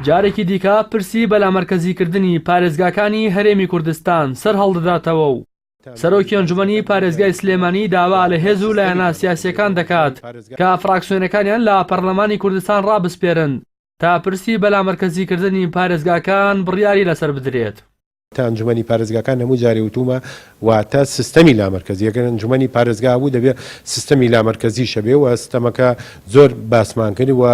جارێکی دیکە پرسی بەلامەرکەزیکردنی پارێزگاکانی هەرێمی کوردستان سەرهەڵدەداتەوە و سەرۆکی ئەنجومەنی پارێزگای سلێمانی داوا لە هێز و لایەنە سیاسییەکان دەکات کە فراکسیۆنەکانیان لە پەرلەمانی کوردستان ڕابسپێرن تا پرسی بەلامەرکەزیکردنی پارێزگاکان بڕیاری لەسەر بدرێت. کە ئەنجومەنی پارێزگاکان هەموو جارێ وتوومە واتە سیستەمی لامەرکەزی ئەگەر ئەنجومەنی پارێزگا هەبوو دەبێ سیستەمی لامەرکەزیش هەبێ و سیستەمەکە زۆر باسمان کرد و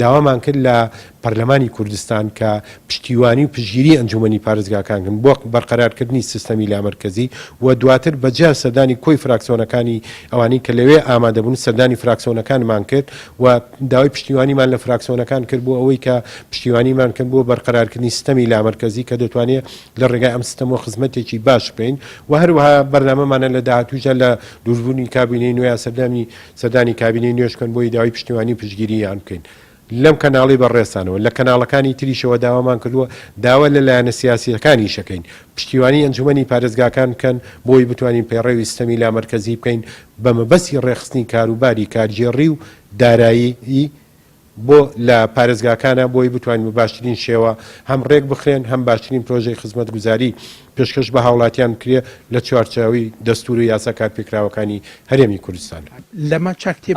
داوامان کرد لە پەرلەمانی کوردستان کە پشتیوانی و پشگیری ئەنجومەنی پارێزگاکان کەن بۆ بەرقەرارکردنی سیستەمی لامەرکەزی و دواتر بە جیا سەردانی کۆی فراکسیۆنەکانی ئەوانەی کە لەوێ ئامادەبوون سەردانی فراکسیۆنەکانمان کرد و داوای پشتیوانیمان لە فراکسیۆنەکان کرد بۆ ئەوەی کە پشتیوانیمان بکەن بۆ بەرقەرارکردنی سیستەمی لامەرکەزی کە دەتوانێت لە ڕێگای ئەم سیستەمەوە خزمەتێکی باش بکەین و هەروەها بەرنامەمانە لە داهاتووشدا لە دروستبوونی کابینەی نوێ یا سەردانی سەردانی کابینەی نوێش بکەن بۆی داوای پشتیوانی و پشتگیرییان بکەین لەم کەناڵی بەڕێزتانەوە. لە کەناڵەکانی تریشەوە داوامان کردووە داوا لە لایەنە سیاسییەکانیش دەکەین پشتیوانی ئەنجوومەنی پارێزگاکان بکەن بۆ ئەوەی بتوانین پەیڕەوی سیستەمی لامەرکەزی بکەین بە مەبەستی ڕێکخستنی کاروباری کارگێڕی و دارایی بۆ لە پارێزگاکانە بۆی بتوانین بە باشترین شێوە هەم ڕێکبخرێن هەم باشترین پرۆژەی خزمەتگوزاری پێشکەش بە هاوڵاتیان بکرێ لە چوارچێوەی دەستوور و یاسا کارپێکراوەکانی هەرێمی کوردستان.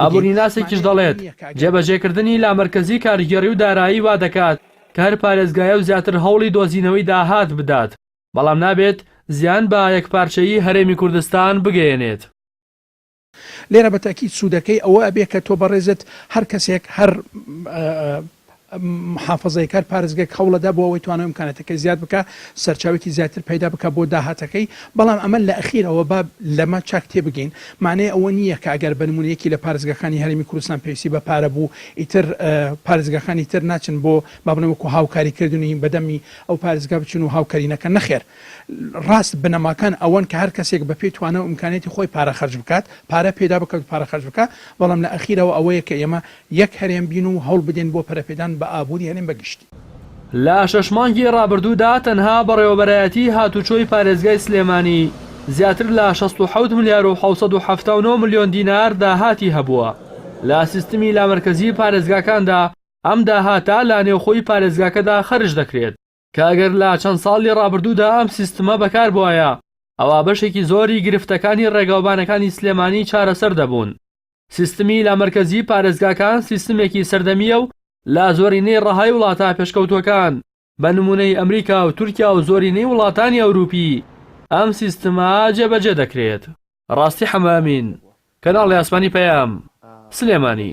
ئابووریناسێکیش دەڵێت، جێبەجێکردنی لامەرکەزی کارگێڕی و دارایی وادەکات کە هەر پارێزگایە و زیاتر هەوڵی دۆزینەوەی داهات بدات، بەڵام نابێت زیان بە یەکپارچەیی هەرێمی کوردستان بگەیەنێت. لێرە بە تەئکید سوودەکەی ئەوە ئەبێ کە تۆ بەڕێزت هەر کەسێک هەر محافەزەیەک هەر پارێزگەیەک هەوڵ ئەدا بۆ ئەوەی توانای ئیمکاناتەکەی زیاد بکا سەرچاوێکی زیاتر پەیدا بکا بۆ داهاتەکەی بەڵام ئەمە لە ئەخیرەوە با لەمە چاک تێ بگەین مانای ئەوە نییە کە ئەگەر بە نموونە یەکی لە پارێزگاکانی هەرێمی کوردستان پێویستی بە پارە بوو ئیتر پارێزگاکانی تر ناچن بۆ با بڵێن وەکو هاوکاری کردن و هین بەدەمی ئەو پارێزگا بچن و هاوکاری نەکەن، نەخێر ڕاست بنەماکان ئەوەن کە هەر کەسێک بەپێی توانا و ئیمکانیەتی خۆی پارە خەرج بکات، پارە پێدا بکات و پارە خەرج بکات، بەڵام لە ئەخیرەوە ئەوەیە کە ئێمە یەک هەرێم بین و هەوڵ بدەین بۆ پەرەپێدان بە ئابووری هەرێم بە گشتی. لە شەش مانگی ڕابردوودا تەنها بەڕێوەبەرایەتیی هاتووچۆی پارێزگای سلێمانی زیاتر لە شەست و حەوت ملیار و حەوت سەد و حەفتا و نۆ ملیۆن دینار داهاتی هەبووە لە سیستمی لامەرکەزی پارێزگاکاندا، ئەم داهاتە لە نێوخۆی پارێزگاکەدا خەرج دەکرێت، کە ئەگەر لە چەند ساڵی ڕابردوودا ئەم سیستمە بەکاربوایە، ئەوا بەشێکی زۆری گرفتەکانی ڕێگاوبانەکانی سلێمانی چارەسەر دەبوون. سیستمی لامەرکەزی پارێزگاکان سیستمێکی سەردەمییە و لە زۆرینەی ڕەهای وڵاتە پێشکەوتووەکان، بە نموونەی ئەمریکا و تورکیا و زۆرینەی وڵاتانی ئەورووپی، ئەم سیستمە جێبەجێ دەکرێت. ڕاستی حەمەئەمین، کەناڵی ئاسمانی پەیام، سلێمانی.